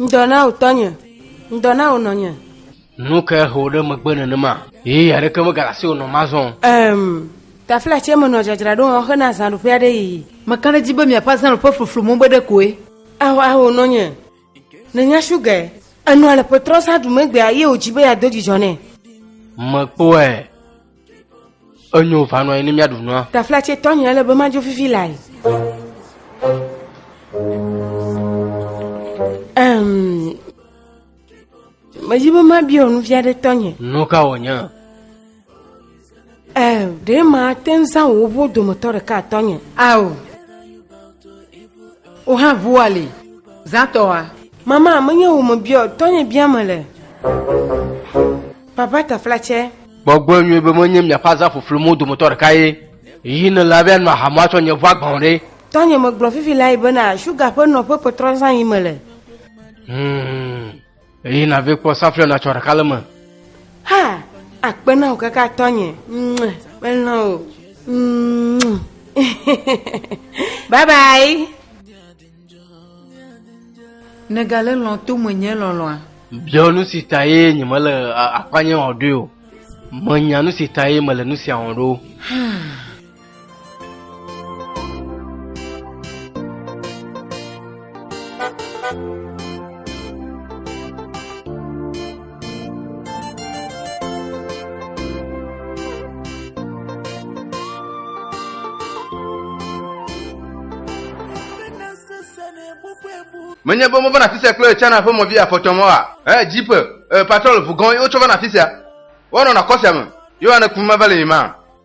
Ŋdɔ na wò tɔnye, ŋdɔ na wò nɔnye. Nu ke he wò ɖe megbe nenema. Ɣeyiɣi aɖeke megale asiwò nɔm azɔ o. Em, tafilatsie me nɔ dzadzraɖo wɔm hena azãɖuƒe aɖe yiyi. Meka ɖe edzi be miaƒe azãɖuƒe fluflu mo be ɖekoe. Ao, ao, nɔnye, nènya shugae. Enɔa le ƒetrɔ zã ɖumee gbea, ye wòdi be yeado dzidzɔ nɛ. Mekpɔe, Enyo va nɔ ne míaɖu nua. Taflatse tɔnye ele be madzo fifi lae. Um, medi be mabia nu vi aɖe tɔnye. Nu ka wònye? Um, ɖe mate ŋu zã wò ʋuwo dometɔ ɖeka tɔnye. Ao, wò hã ʋua li. Zãtɔa. Mama, menye wò mebiɔ, tɔnye bia mele. Papa Taflatsɛ. Gbɔgblɔe nyuie be menye miaƒe azã ƒuƒlu mo dometɔ ɖeka ye. Ɣi ne la be anɔ aha mo atsɔ nye ʋu agbã o ɖe. Tɔnye megblɔ fifi lae bena suga ƒe nɔƒe kpɔtrɔ zã yi mele. Hum. Ɣi na ve kpɔ saflɛ natsɔ ɖeka le me. Ha! Akpe na wò kaka tɔnye. Mue. Melɔ wò. Mue. Bye bye. Nègale lɔ̃ to menye lɔlɔ̃a? Biɔ nu si tae nyemele akpanye o ɖoe o. Menya nu si tae mele nu sia wɔm ɖo. menye be mova na afi sia kple china ƒe mɔvi afɔtɔmɔ wa e jeep e patrol vugɔn ye wotsɔ va na afi sia woanɔ na kɔ sia me ye woane kum mava le yi ma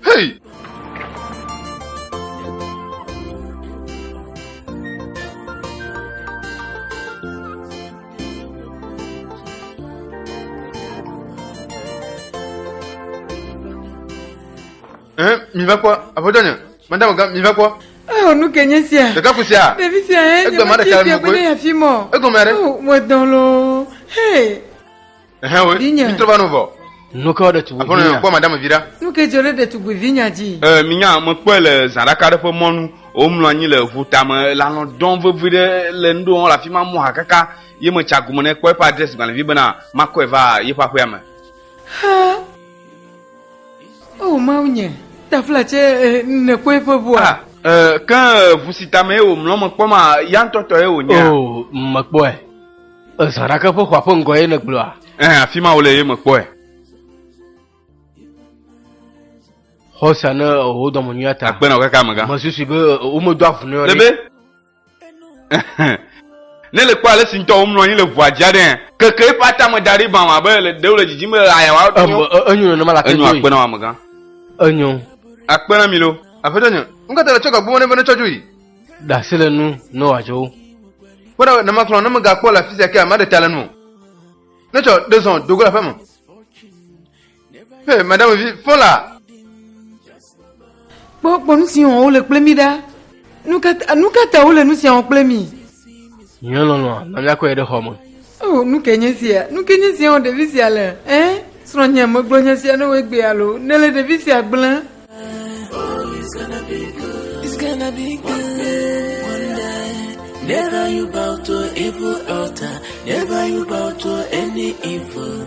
Hei! Eh, mi va quoi Aƒetɔ nye, madame ga, mi va quoi Oh, nu ke nye sia. Ɖeka ku sia. Ɖevi sia ye. Egbe ma ɖeka le mɔgbe. Egɔme aɖe. Oh, mo dɔn lo. Hey. Ɛhɛn we. Vinye. Mi trɔ va no vɔ. Nu ke ɖetugbi vinya. Aƒenɔ yɔ kpɔ madame vi ɖa. Nu ke dzɔ ɖe ɖetugbi vinya dzi. Ɛɛ mi nya me kpɔe le zã ɖaka ɖe ƒe mɔnu. Wo mlɔ anyi le ʋu tame. Le alɔ dɔm vevi ɖe le nuɖe wɔm le afima mɔ ha kaka ye me tsa gome nɛ kpɔ eƒe adresse gbalẽvi bena ma kɔe va yeƒe aƒea me. Ha. O oh, mawu nye. Tafla tse eh, ne kpɔe ƒe ʋua. Ah. Eh, ke ʋu si tame ye wò mlɔ me kpɔ ma ya ŋutɔtɔ ye wò nye. O oh, me kpɔe. Ezã ɖake ƒe xɔa ƒe ŋgɔ ye nègblɔa? Ɛɛ, afi ma wòle ye mekpɔe. Xɔ sia ne wò dɔme nyuia ta. Akpe na wò kaka amegã. Mesusui be womedo avu nɛ o. Lebe. Ne le kpɔ ale si ŋutɔ womlɔ anyi le ʋua dzi aɖe hã. Keke eƒe atame da ɖi bam abe ɖe wòle dzidzim be ɣeaɣia wòaɖo. Enyo, enyo nenema la te doe. Enyo, akpe na wò amegã. Enyo. Akpe na mi loo. Aƒetɔ nye, nu ka ta nètsɔ gagbome nɛ be netsɔ dzoe? ɖe asi le nu ne wòadzɔ wo. Kpɔ ɖa ne makplɔ ne megakpɔ le afi sia ke maɖe ta le nu o. Netsɔ ɖe zɔ do go le aƒeme. Hey, madame vi, fɔ la. Kpɔ kpɔ nu si wɔm wole kple mi ɖa. Nu ka ta wole nu sia wɔm kple mi? Nye lɔlɔ̃a na míakɔe ɖe xɔ me. Oh, nu ke nye sia? Nu ke nye sia wɔ ɖevi sia le? Ẽ? Srɔ̃nye megblɔ nya sia na wò egbea alo? Nèle ɖevi sia gblẽm? Never you bow to evil altar. Never you bow to any evil.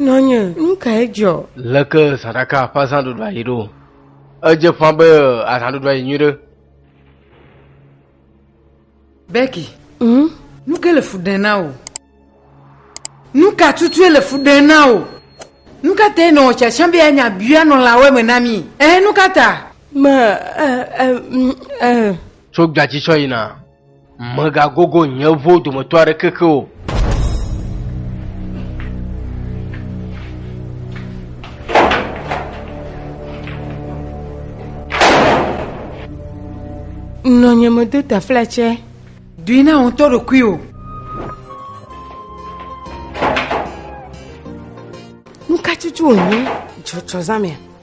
Nɔnye, nu kae dzɔ? Leke zãɖaka ƒe azãɖuɖua yi ɖo? Edze ƒã be azãɖuɖua yi nyuiɖe. Becky, hm? Nu ke le fu ɖem na wò? Nu ka tutue le fu ɖem na wò? Nu ka tae nèwɔ tsatsa be yeanya Biblia nɔlawoe me na mí? Ɛ̃, nu ka ta? Ma, ɛ̃, ɛ̃, hm, ɛ̃. Tso gbea dzi tsɔ yina. Mègagogo nye ʋuwo dometɔ aɖeke ke o. Nɔ nye medo taflatsɛ. Dui na ŋutɔ ɖokuiwò. Nukatsotso wònye dzɔdzɔzãmea?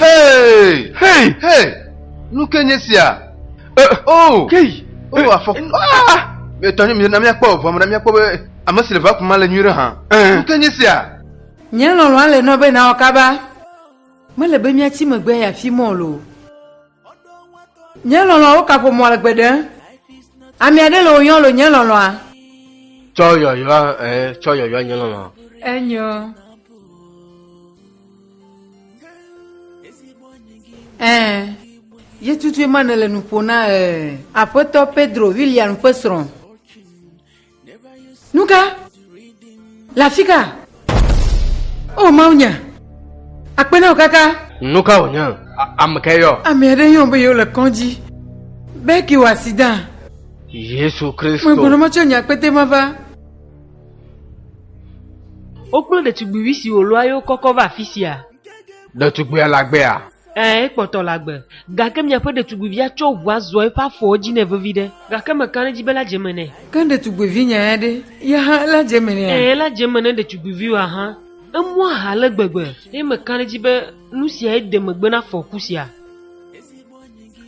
Hey! Hey! Hey! Nu ke nye sia? Eh, oh! Hey! Oh, eh, afɔ. Eh, ah! Etɔ nye mi na míakpɔ ʋɔme na míakpɔ be ame si le va kuma le nyui ɖe hã. Nu ke nye sia? Nye lɔlɔ̃a le nɔ be nawɔ kaba. Mele be míatsi megbe ya fi mɔ lo. Nye lɔlɔ̃a wo ka ƒomɔ le gbeɖe. Ami aɖe le wò yɔn lo nye lɔlɔ̃a. Tsɔ yɔyɔa ɛ eh, tsɔ yɔyɔa nye lɔlɔ̃a. Enyo. Ɛ. Eh. Ye tutue ma ne le nuƒo na ɛ. Eh. Aƒetɔ Pedro William ƒe srɔ̃. Nuka? Le afi ka? O Mawu nya. Akpe na wò kaka. Nuka wònye? Ame ka yɔ? Ame aɖe yɔ be yewole kɔdzi. Beki wɔ asida. Yesu Kristo. Megblɔ metsɔ nye akpete ma va. Wokplo ɖetugbivi si wòlɔa ye wokɔkɔ va afi sia. Ɖetugbuia le agbea? Ɛ̃, ekpɔtɔ le agbe. Gake miaƒe ɖetugbuivia tsɔ ʋua zua eƒe afɔwo dzi nɛ vevi ɖe! Gake meka ɖe edzi be ela dze eme nɛ. Ke ɖetugbuivinyae ɖe? Ye hã ela dze eme nɛa? Ɛ̃, ela dze eme ne ɖetugbuiviwòa hã. Emɔ aha ale gbegbe. Eye meka ɖe edzi be nu siae de megbe na afɔku sia.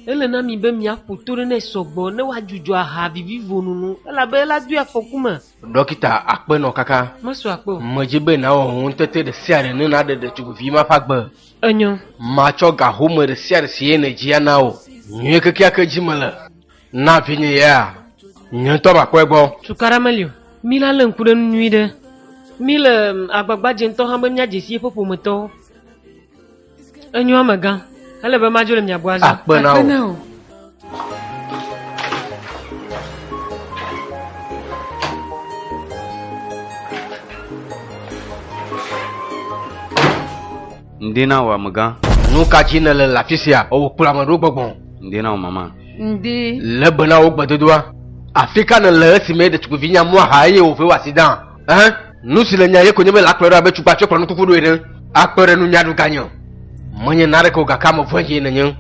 Ele na mi be miaƒo to ɖe nɛ sɔ gbɔ ne wòadzudzɔ aha vivivo nunu, elabe ela doe afɔku me. Ɖɔkita Akpenɔ kaka. Mesu akpe o. Medzi be nàwɔ ŋutete ɖe sia ɖe ne nàɖe ɖetugbivi ma ƒe agbe. Enyo. Matsɔ ga home ɖe sia ɖe si ye nèdzi ana wò. Nyuie kekeake dzi mele na vinye ya. Nye ŋutɔ makpɔe gbɔ. Tukaɖa meli o. Mila lé ŋku ɖe enu nyuiɖe. Mile agbagba dzem ŋutɔ hã be míadze si yeƒe ƒometɔwo. Enyo amegã. Ele be madzo le mia gbɔ azɔ. Akpe na wò. Ŋdi na wò amegã. Nu ka dzi nèle le afi sia? Ewò kplɔ ame ɖewo gbɔgbɔ. Ŋdi na wò mama. Ŋdi. Lé be na wò gbedodoa. Afi ka nèle esime ɖetugbivi nya mɔa xa eye wòvɔe wɔ asi dãa? Ɛhɛn, nu si le nya ye ko nye be le akplɔe ɖo abe tukpa tso kplɔ nukuku ɖoe ɖe. Akpɔe ɖe nunya ɖu ganye o. Menye naneke o gake ame vɔ̃e dzie nenye.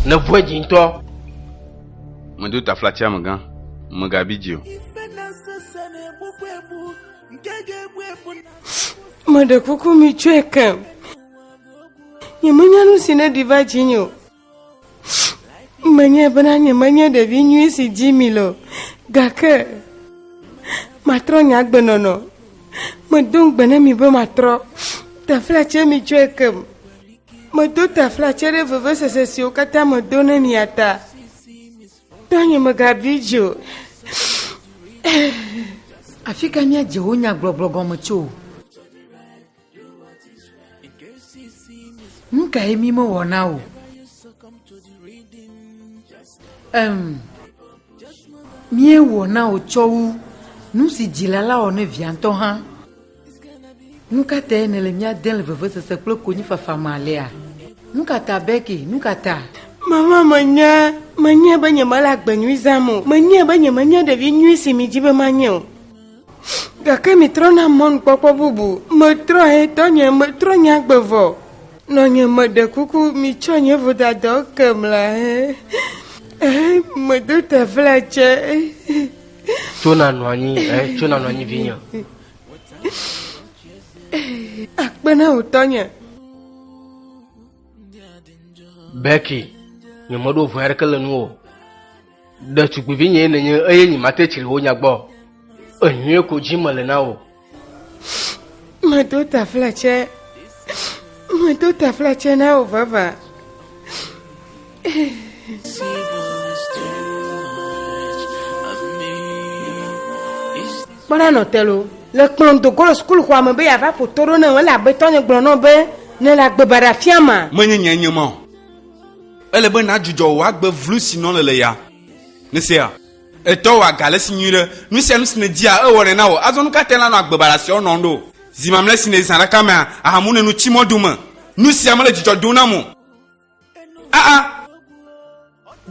Ne vɔ̃e dzi ŋutɔ. Medo taflatsia me gã, megabi dzi o. Meɖe kuku mitsɔe kem. Nyemenya nu si neɖi va dzinye o. Menye bena nyemenye ɖevi nyui si dzi mi le o, gake matrɔ nye agbenɔnɔ. Medo ŋugbe ne mi be matrɔ taflatse mi tsɔe kem. Medo taflatse ɖe vevesese siwo katã medo ne mia ta. Tɔ nye megabi dzi o. Afi ka míadze wo nyagblɔgblɔ gɔme tso? Nu kae mi mewɔna o? Em, míewɔna o tsɔ wu nu si dzila la wɔ ne via ŋutɔ hã. Nu ka tae nèle mía dem le vevesese kple konyifafa me alea? Nu ka ta, Becky? Nu ka ta? Mama, menye, menye be nyemele agbe nyui zãm o. Menye be nyemenye ɖevi nyui si miedi be manye o. Gake mitrɔna mɔnukpɔkpɔ bubu. Metrɔ he tɔ nye, metrɔ nye agbe vɔ. Nɔ nye me ɖe kuku, mitsɔ nye vodadɔ ke mla he. Eh, medo te vla tse. Tso na nɔ anyi, eh, tso na nɔ anyi vinye. Akpe na wò tɔ nye. Becky, nye meɖo vɔe aɖeke le nuwò. Ɖetugbivinyee nènye eye nyemate tsri wò nya gbɔ o. Enyuie ko dzi mele na wò. Medo taflatse, medo taflatse na wò vavã. Kpɔna nɔ telo le kplɔm do go le sukuxɔa me be yeava ƒo to ɖo nam elabe tɔnye gblɔ nɔm be nele agbebaɖa fiam ma. Menye nyee nye ma o. Ele be nàdzudzɔ wò agbe vlu si nɔ nèle ya. Nèsea? Ètɔ wò aga le esi nyui ɖe. Nu sia nu si nèdia, ewɔnɛ na wò. Azɔ nu ka tae nànɔ agbe baɖasiawo nɔm ɖo? Zi mamlɛ si nèzã ɖe ka mea, aha mu nènu tsi mɔ do me. Nu sia mele dzidzɔ dom nam o. Aa!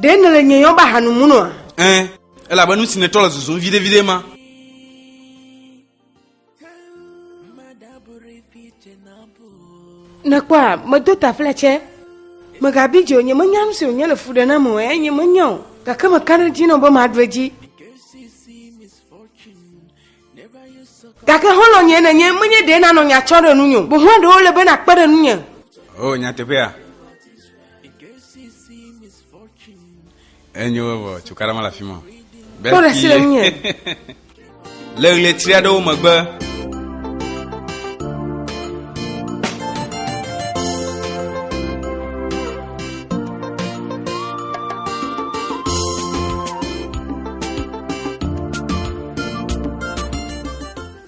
Ɖe nèle nye yɔm be aha nu mu nɔa? Ẽ, elabe nu si nètrɔ le zuzum viɖeviɖe ma. Nèkpɔa, medo tafle tsɛ. Mègabi dzi o, nyemenya nu si wònye le fu ɖe nam o, eya nye menya o, gake meka ɖe edzi nɔm be maɖu edzi. Gake xɔlɔ̃nye nènye, menye ɖe nànɔ nya tsɔm ɖe ŋunye o, boŋ eɖewo le be nàkpe ɖe ŋunye. O nyateƒea? Enyo vɔ cukaɖa mele afi ma. Kpɔ ɖe asi le ŋunyɛ. Le ɣletri aɖewo megbe.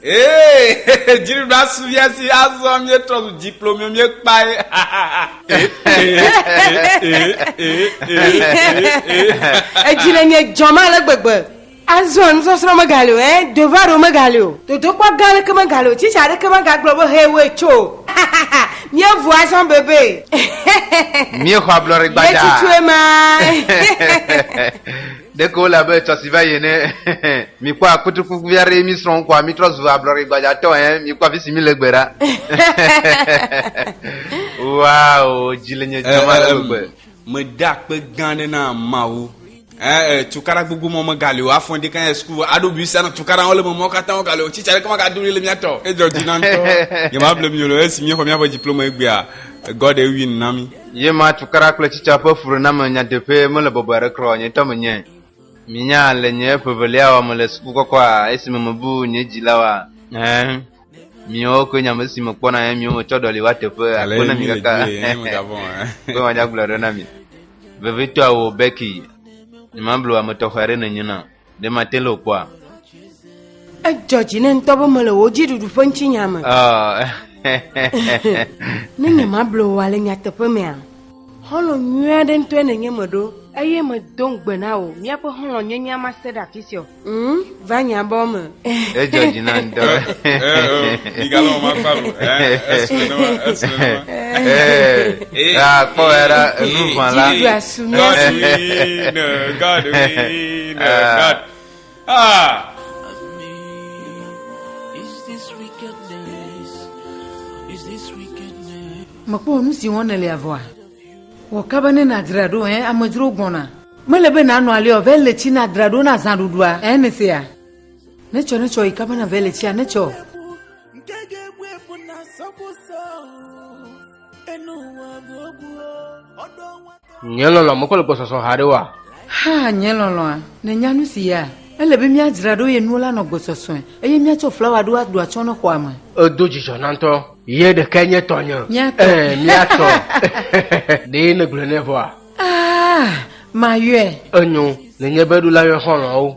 Ee, dziɖuɖua su via si azɔ míetrɔ zu dzikplo mio míekpae. Edzi le nye dzɔm ale gbegbe. Azɔ nusɔsrɔ̃ megali o, eh, dovaro megali o, dodokpɔ gã aɖeke megali o, tsitsi aɖeke megagblɔ be hee woe tso o. Míevu azɔ bebe. Míexɔ ablɔɖe gbadza. Míetutu ema. Ɖeko wole abe etsɔ si va yi ene. Mìkpɔ akutrikuvi aɖe ye mìsrɔ̃ ŋkɔa, mìtrɔ zu ablɔɖe gbadzatɔ ɛ. Mìkpɔ afi si mìle gbe ɖa. Wow, dzi le nye dzɔm ale gbegbe. Meda akpe gã aɖe na Mawu. Ɛɛ, tukaɖa gbogbo mawo megali o. Afɔn ɖeka ya suku aɖo bisa na tukaɖa wo le me mawo katã wogali o. Tsitsa ɖeka magado ɖi le mía tɔ. Edzɔ dzi na ŋutɔ. Nyemable mi o le esi míexɔ míaƒe diplome egbea, God ewin na mí. Ye ma tukaɖa kple tsitsa ƒe fuɖename nyateƒee mele bɔbɔe aɖe kura o, nye ŋutɔ menyae. Minya, le nye ƒe evelia wɔ me le suku kɔkɔa, esi me mebu nye dzilawoa, ɛ̃, miawo koe nye ame si mekpɔna nye miwo metsɔ ɖɔli wa teƒe akpe ne migaka be madzagblɔe ɖo na mi. Vevitɔe wò, Becky. Nyemablu ame tɔxɛ aɖe nènye na. Ɖe mate le wokpɔa? Edzɔ dzi ne ŋutɔ be mele wò dziɖuɖu ƒe ŋutinya me. ne nye mable wòa le nyateƒe mea, xɔlɔ̃ nyui aɖe ŋutɔe nènye meɖo. Eye medo ŋugbe na wò míaƒe xɔlɔ̃nyenyea mase ɖe afi sia o. Ŋ, va nye abɔwo me. Edzɔ dzi na ŋutɔ. Migalɔ ma kpa lo. Esu ne ma, esu ne ma. Ee, akpɔ ya ɖa enu vã la. Jidu asu mi. God we no, God we no, God. Ah. Mekpɔ nu si wɔm nèle avɔa. Wɔ kaba ne nàdzra ɖo, ɛ amedzro gbɔna. Mele be nànɔ aliɔ, vɛ le tsi nàdzra ɖo na zãɖuɖua, ɛ nèsea. Netsɔ, netsɔ, yi kaba na vele tsia, netsɔ. Nye lɔlɔ, mekɔ le gbɔsɔsɔ ha ɖe wa. Ha, nye lɔlɔa, ne nya nu si ya. Ele be míadzra ɖo ye nuwo la nɔ gbɔsɔsɔe, eye míatsɔ flawa ɖo aɖu atsɔ ne xɔa me. Edo dzidzɔ na ŋutɔ. Ye ɖeka nye tɔnye. Míatɔ. Ɛɛ, míatɔ. Ɖee negblɔe nɛ vɔa. Ah, mayɔe. Enyo, nenye be ɖola yɔ xɔlɔawo.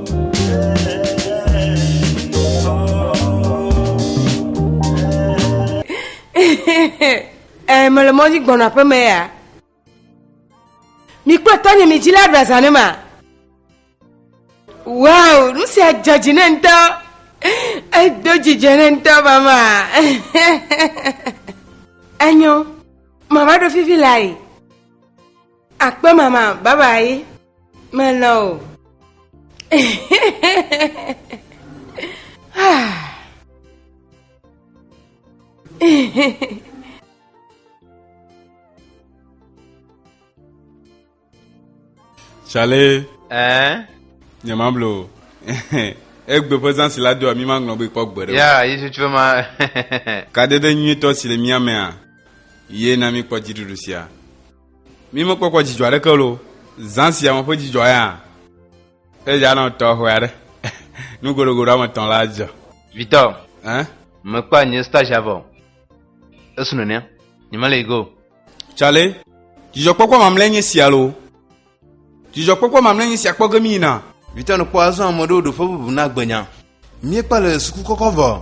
eh, me le mɔdzi gbɔna ƒe me ya mi kple tɔnye mi dzi la ɖaza ne ma wow nu sia dze dzi ne ŋutɔ edo dzidzɔ ne ŋutɔ mama enyo mama ɖo fifi la yi Akpe mama, bye bye. Melɔ̃ o. Chalet. Eh? Nye ma blo. Egbe ƒe zã si la doa mi maŋlɔ be kpɔ gbe ɖe. Ya, Yesu tsɔ ma. Kadede nyuitɔ si le mía mea, ye na mi kpɔ dziɖuɖu sia. Mi mekpɔkpɔ dzidzɔ aɖeke lo zã sia me ƒe dzidzɔ ya. Eya nɔ tɔxɛ aɖe. Nu goɖogoɖo ame etɔ̃ la dze. Vitɔ. Hein? Mekpɔa nye stage avɔ. Esu nene. Nyemele yi go. Tsale. Dzidzɔkpɔkpɔ mamlɛ nye sia lo. Dzidzɔkpɔkpɔ mamlɛ nye sia kpɔ ge mi yina. Vitɔ nɔ kpɔ azɔ ame ɖewo ɖo ƒe bubu na gbenya. Miekpɔ le suku kɔkɔ vɔ.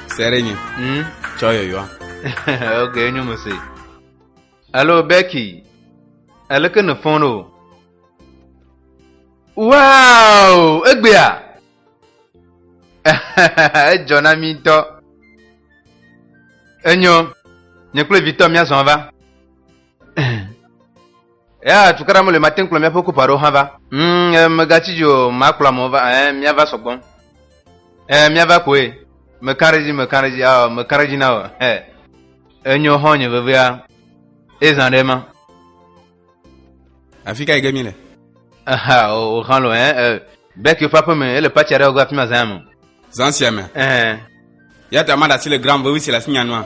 Se ɖe nye. Hmm? Tsɔ yɔyɔa. ok, enyo me se. Hello Becky. Eleke ne fɔn o? Wow, egbea. Edzɔ na mi ŋutɔ. Enyo. Nye kple vitɔ mía zɔn va. ya tukara mele mate ŋkplɔ míaƒe kupa ɖewo hã va mm, megatsi dzi o makplɔ amewo va eh, míava sɔgbɔ eh, míava koe mekã ɖe dzi mekã ɖe dzi ah, mekã ɖe dzi na o eh, enyo xɔ nye vevea ezã ɖe ma afi ka yi ge mi le aha o xɔ lo eh, bɛki woƒe aƒeme ele patsi aɖe go afi ma zã me zã sia me eh. ya ta maɖe asi le gram vevi si le asi nyanua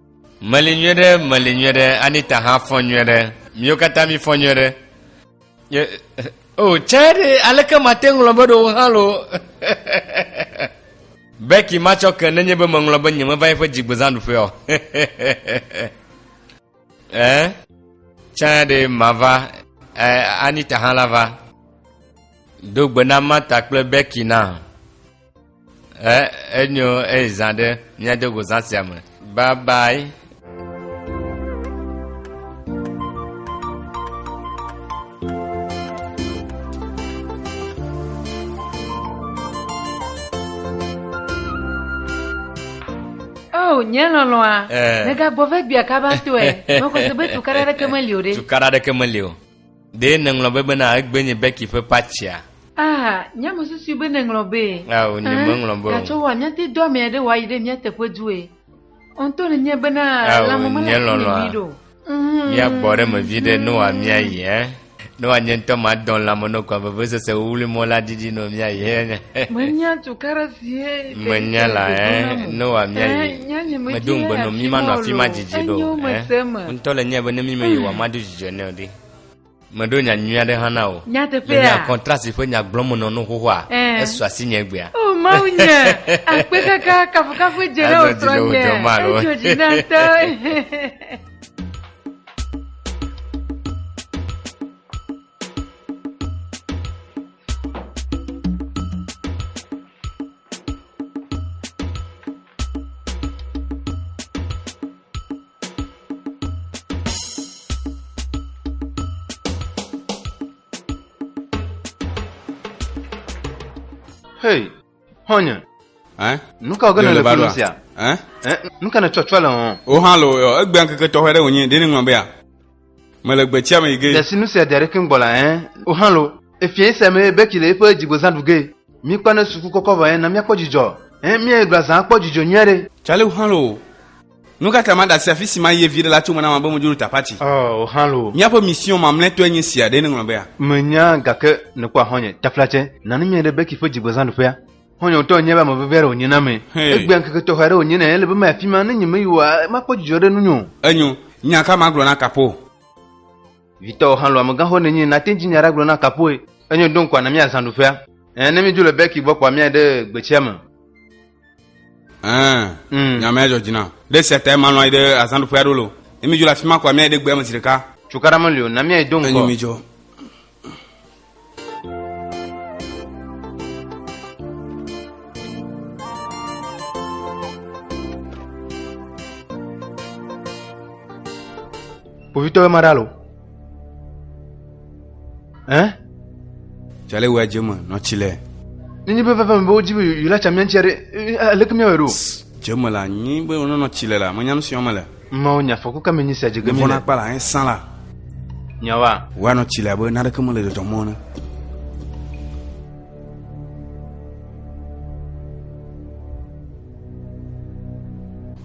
Meli nyuie ɖe, meli nyuie ɖe, Anita hã fɔ nyuie ɖe, miwo katã mi fɔ nyuie ɖe. Ye, o, oh, tse ɖe, aleke mate ŋlɔ be ɖewo hã lo. Becky matsɔ ke nenye be meŋlɔ be nye meva eƒe dzigbezãɖuƒe o. eh? Tse ɖe mava, eh, Anita hã la va. Do gbe na Marta kple Becky na. Eh, enyo eyi zã ɖe míade go zã sia me. Bye bye. o nye lɔlɔa eh. megagbɔ vegbia kaba tɔe mekɔse be tukara ɖeke meli o ɖe tukara ɖeke meli o Ɖe nèŋlɔ be bena egbe nye Becky ƒe patsia? Aa, nye mesusui be nèŋlɔ be. Ao, nye meŋlɔ be o. Gatsɔ wɔ nyati dɔ ame aɖe wòayi ɖe mía teƒe due. Ŋutɔ nenye bena lãme mele asi nɛ nyuie ɖe o. Míagbɔ ɖe eme vi ɖe ne wòa míayi ɛ. Ne wòa nye ŋutɔ madɔ lãme nɔ kɔa vevesese wuli mɔ la didi nɔ míayi ɛ. Menya tukaɖe si ɛ. Menya la ɛ. Ne wòa míayi. Medo ŋugbe nɔ mí manɔ afi ma didi ɖo ɛ. Ŋutɔ le nye be ne mí me yi wòa madu. dzɔe nɛ o ɖi. Meɖo nya nyui aɖe hã na wò. Nyateƒea. Le nya kɔntrasi ƒe nya gblɔm nɔ nu xoxoa, esu asi nye egbea. O oh, Mawu nye, akpe kaka kafukafu dze ɖe wò srɔ̃ nye. Edzo dzi na ŋutɔ. Hey, xɔnye. Eh? Nu ka wòge Ɖe le nèle va funu ɖoa? sia? Eh? Eh, nu ka nètsɔtsɔ le hɔn? Wo hã le o, egbe ŋkeke tɔxɛ ɖe wònye, ɖe neŋlɔ bea. Mele gbetsia me yi ge. Desi nu sia dea ɖe keŋ gbɔ la, ɛ̃, woxlã lo. Efiẽ sia mee Becky le eƒe dzigbozã ɖu ge. Míkpɔ ne suku kɔkɔ vɔ ɛ̃, na míakpɔ dzidzɔ. Ɛ̃, míayi gblɔa zã akpɔ dzidzɔ nyui aɖe. Tsale woxlã lo. Nu ka ta maɖe asi afi si mayi ye viɖe la tso me na ame be medzo ɖo tapati? Ɔ, woxlã lo. Míaƒe mission mamlɛtɔe nye sia. Ɖee neŋlɔ bea? Menya, gake nekpɔ ahɔ̃nye. Taflatse, na nu míayi ɖe Becky ƒe dzigbozãɖuƒea. Xɔ̃nye ŋutɔ enye be ame vevi aɖe wònye na me. Hɛ. Egbea ŋkeke tɔxɛ aɖe wònye nɛ. Ele be mayi afi ma. Ne nyemeyi oa, makpɔ dzidzɔ ɖe nunye o. Enyo. Nya ka magblɔ na Kapo? Vitɔwo hã lɔ̃ amegãxoxo nenye. Nàte ŋu dzi nya aɖe agblɔ na Kapoe. Enyo, ɖo ŋkɔa na mía azãɖuƒea. Ɛ̃, ne míedzo le Bɛki gbɔ kpɔa, míayi ɖe gbetsia me. Ɛ̃, Mm. nya ma ya dzɔ dzi nam. Ɖe esia tae malɔ̃ ayi ɖe azãɖuƒea ɖo loo. Ne míedzo le afi ma kɔa, míayi ɖe gbea me zi ɖeka. Cukaɖa meli o. Na míayi do ŋgɔ. Enyo, mídzo. Kpovitɔwo ma ɖa lo. Ɛ? Tsale wɔ dze me nɔ tsi le. Nenyi be veve me be wodzi be yòla tsa miantsia ɖe, aleke miawɔe ɖo? Dze me la nyi be wonɔnɔ tsi le la, menya nu si wɔm mele. Mawu nya fɔku ka me nyi sia dze ge mi le? kpala hein san la. Nyawa. Wa no chile abe na ɖeke mele dzɔdzɔm mɔ ne.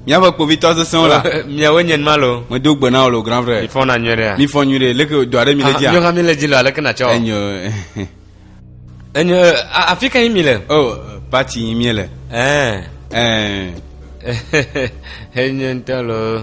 Miaƒe kpovitɔ sesẽwo la. Miawo nye ma lo. Medo gbe na wò lo grand frère. Mi fɔ na nyuie ɖe. Mi fɔ nyuie ɖe. Leke do aɖe mi le ah, dzi. Nyɔga mi le dzi lo aleke na tsɔ. Enyo. Enye a- afi ka yi mi le? Oh, party yi mie le. Ɛɛ. Ɛɛ. Enye ŋutɔ loo.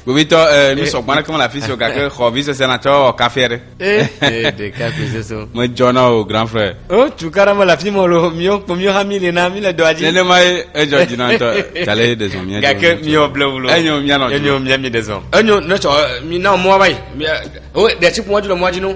Gbovitɔ, eh, mi sɔgbɔ aɖeke mele afi si o gake xɔ vi sese na tsɔ wɔ kafe aɖe. Eh, eh, ɖeka koe soso. Medzɔ na wò grand frère. O tu kara mele afi mɔ loo. Miwo kpo miwo hã mi li na mi le dɔa dzi. Nenema ye edzɔ dzi na ŋutɔ. Tale ɖezɔ mía dzi. Gake miwo ble wulo. Enyo míanɔ dzi. Enyo mía mi ɖezɔ. Enyo ne tsɔ mi na mɔa va yi. Mi- O ɖe tsi ƒu mɔdzi le mɔa dzi no.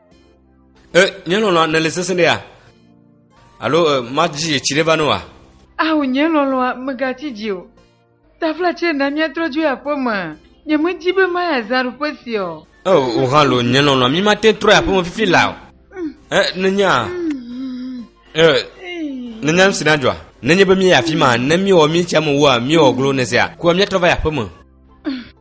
E, nye lɔlɔ̃a nèle sesẽ ɖea? Alo e, madzi etsi ɖe va ne wa? Ao, nye lɔlɔ̃a, mègatsi dzi o. Taflatse na míatrɔ dzoe aƒeme. Nyemedi be mayi azãɖuƒe sia o. E, wò hã lo, nye lɔlɔ̃a, mímate ŋu trɔyi aƒeme fifi la o. E, nènya? E, nènya nu si nadzɔa? Nenye be míeyi afi ma, ne míewɔ mí tsia me wua, míewɔ glo, nèsea? Kua míatrɔ va yi aƒeme.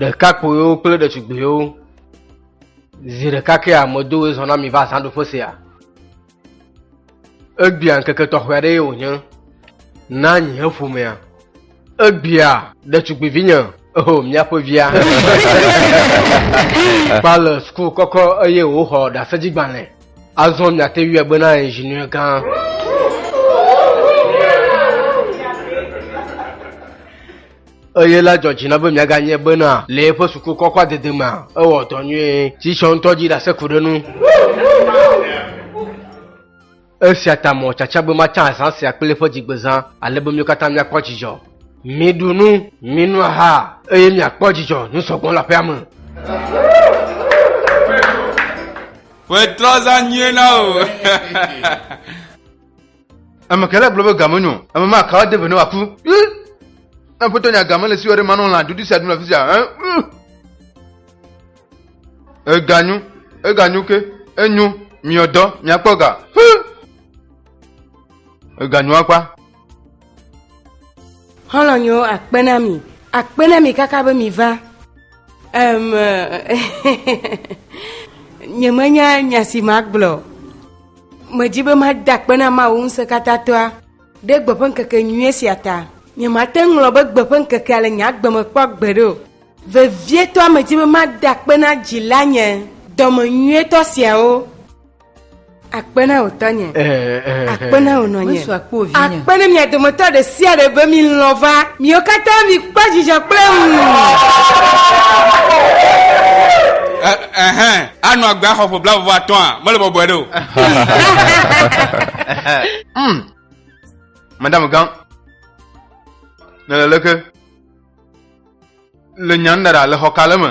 ɖekakpuiwo kple ɖetugbuiwo zi ɖeka ke amedowoe zɔna mi va zãɖuƒe sia Egbea ŋkeke tɔxɛ aɖee wònye na nye ƒomea. Egbea ɖetugbivinye eho míaƒe via. Kpa le suku kɔkɔ eye wòxɔ ɖaseɖigbalẽ. Azɔ miate ŋui agbe na inziniɛ gã. eye la dzɔ dzi na be miaganye bena le eƒe suku kɔkɔa dede mea, ewɔ dɔ nyuie, si tsɔ ŋutɔ dzi ɖase ku ɖe nu. Esia ta mɔ tsatsa be matsã azã sia kple eƒe dzigbezã, ale be míwo katã míakpɔ dzidzɔ. Miɖu nu, minu aha, eye miakpɔ dzidzɔ nu sɔgbɔ le aƒea me. Ƒe trɔza nyuie na wò. Ame kae la gblɔ be game nyo? Ame ma kawa de ve ne wòaku? Aƒetɔ nya game le siwɔ ɖe manɔ lã ɖuɖu sia ɖum le afi sia. Eganyo, eganyo ke, enyo, miɔdɔ, miakpɔ ga. Eganyo akpa. Xɔlɔnyo akpe na mi, akpe na mi kaka be mi va. Um, nyemenya nya si magblɔ. Medi be mada akpe na Mawu ŋusẽkatãtɔa ɖe gbe ƒe ŋkeke nyuie sia ta. Nyemate ŋu ŋlɔ be gbe ƒe ŋkekea le nye agbe me kpɔ gbeɖe o. Vevietɔa medi be mada akpe na dzilanye dɔme nyuietɔ siawo. Akpe na wò tɔnye. Akpe na wò nɔnye. Akpe na mia dometɔ ɖe sia ɖe be milɔ̃ va. Miwo katã mikpɔ dzidzɔ kple ŋu. Anɔ agbe axɔ ƒe blaeve atɔa? Mele bɔbɔe ɖe o. Hmm. Madame Gang, nele leke le nyan da ɖa le xɔ ka le me?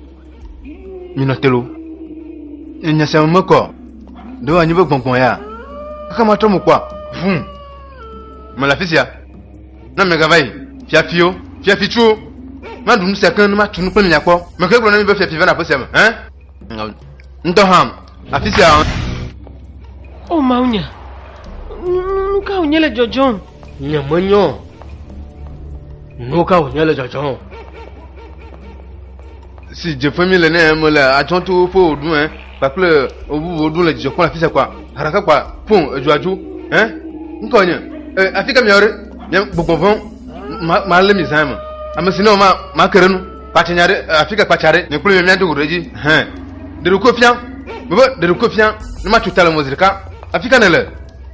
Minɔ te lo. Nye nya sia me kɔ. Ɖo anyi be gbɔngbɔn ya. Aka ma trɔ mo kpɔ. Vum. Me le afi sia. Na me gava yi. Fiafiwo, fiafitsuwo. Ma ɖu nu sia keŋ ne ma tu nu kple mi nyakpɔ. Me ke gblɔ na mi be fiafi va na aƒe sia me. Hɛn. Ŋdɔ ham. Afi sia. O mawunya. Nu ka wònye le dzɔdzɔm? Nyemenyɔ nu ka wònye le dzɔdzɔm o. Si dzeƒe mi le ne mele adzɔ to woƒe wòɖu ɛ kpakple bubuwo ɖu le dzidzɔ kpɔm afi sia kpa haɖaka kpa pon edzoadzu ɛ ŋkɔ nye ɛ afi ka miawo ɖe nye gbogbo vɔn malé mi zã me ame si ne o ma make ɖe nu kpatsa nya ɖe afi ka kpatsa ɖe nye kple mi miado go ɖe dzi hɛn ɖeɖokofia mebe ɖeɖokofia ne matso ta le mɔzi ɖeka afi ka ne le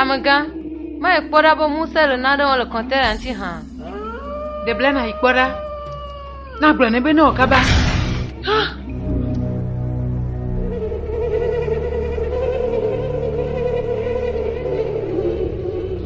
Amegã, mae kpɔ ɖa be ŋusẽ le nane wɔm le kɔntɛna ŋuti hã. De bla nàyi kpɔ ɖa. Na gblɔ nɛ be ne wɔ kaba.